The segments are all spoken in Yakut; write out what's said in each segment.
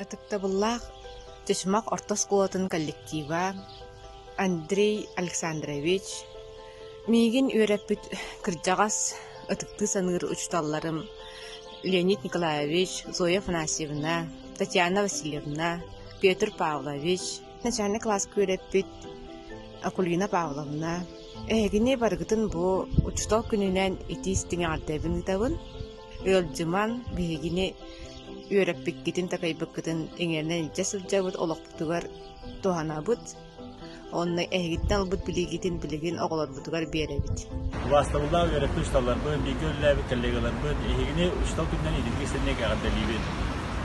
Ытыктабыллаах Чычымах орто оскуолатын коллектива Андрей Александрович, миигин үөрэппит кырдьаҕас ытыктыы саныыр учууталларым Леонид Николаевич, Зоя Афанасьевна, Татьяна Васильевна, Петр Павлович, Начальный класс күөрэппит Акулина Павловна, эһигини барыгытын бу учутал күнүнэн ити-истиҥ аҕардайбын ыытабын. Ыалдьыман биһигини үөрэппиккитин такайбыккытын иҥэринэн илдьэ сылдьабыт олохпутугар туһанабыт. Онно эһигиттэн ылбыт билиигитин билигин оҕолорбут быһыытыгар биэрэбит. Убаастабыллаах үөрэтии учууталларбын, бииргэ үлэлээбит коллегаларбын эһигини учуутал күнүнэн идилги сиринник эҕэрдэлиибин.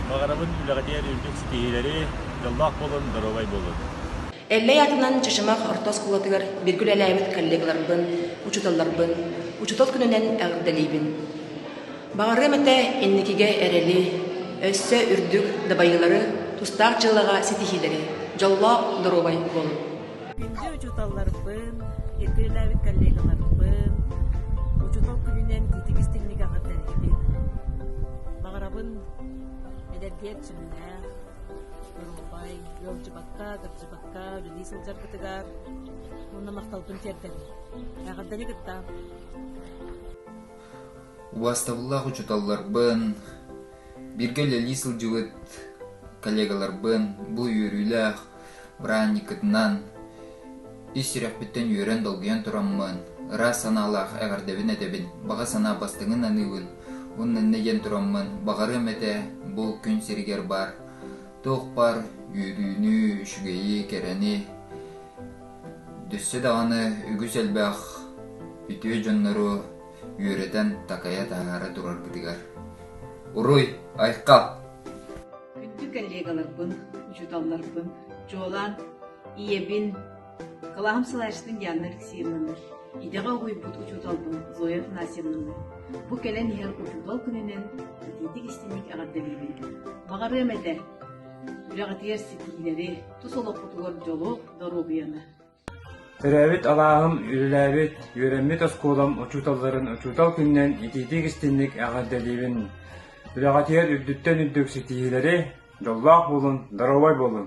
Баҕарабын үлэҕитигэр үрдүк ситиһиилэри, дьоллоох буолун, доруобай буолун. Эллэй атынан Чычымах орто оскуолатыгар бииргэ үлэлээбит коллегаларбын, учууталларбын учуутал күнүнэн эҕэрдэлиибин. Баҕарыам этэ инникигэ эрэли, өссө үрдүк дабайыылары, тустаах дьыллаҕа ситиһиилэри, дьоллоох, доруобай буолун. Күндү учууталларбын, иркилэлээбит коллегаларбын, учуутал күнүнэн титик-истиҥник аҕардарыыбын. Баҕарабын эдэргиэр сүмнээх, Нурумбай, ыалдьыбакка, кырдьыбакка үлэлии сылдьаргытыгар уонна махталбын тиэрдэбин. Эҕэрдэни кыттаан. Убаастабыллаах учууталларбын, бииргэ үлэлии сылдьыбыт коллегаларбын бу үөрүүлээх Быраанньыккытынан ис сүрэхпиттэн үөрэн долгуйан тураммын, ыраас санаалаах эҕэрдэбин этэбин, баҕа санаа бастыҥын аныыбын. Уннанна диэн тураммын, баҕарыам этэ бу күн сиригэр баар туохпар үөрүүнү, үчүгэйи, кэрэни Дүссе даҕаны үгүс элбэх үтүө дьоннору үөрэтэн такайа таһаара тураргытыгар. Уруй, айхал! Күндү коллегаларбын, учууталларбын, чуолаан ийэбин, кылааһым салайаачытын Диана Алексеевналар, идэҕэ угуйбут учууталбын Зоя Афанасьевналар, бу кэлэн иһэр учуутал күнүнэн итиитик истиҥник эҕэрдэлиибин. Баҕарыам этэ, үлэҕитигэр ситиһиилэри, тус олоххутугар дьолу, доруобуйаны. Төрөөбүт алааһым, үлэлээбит, үөрэммит оскуолам учууталларын учуутал күнүнэн итиитик-истинник эҕэрдэлиибин! Үлэҕитигэр үрдүттэн үрдүк ситиһиилэри, дьоллоох буолун, доруобай буолун!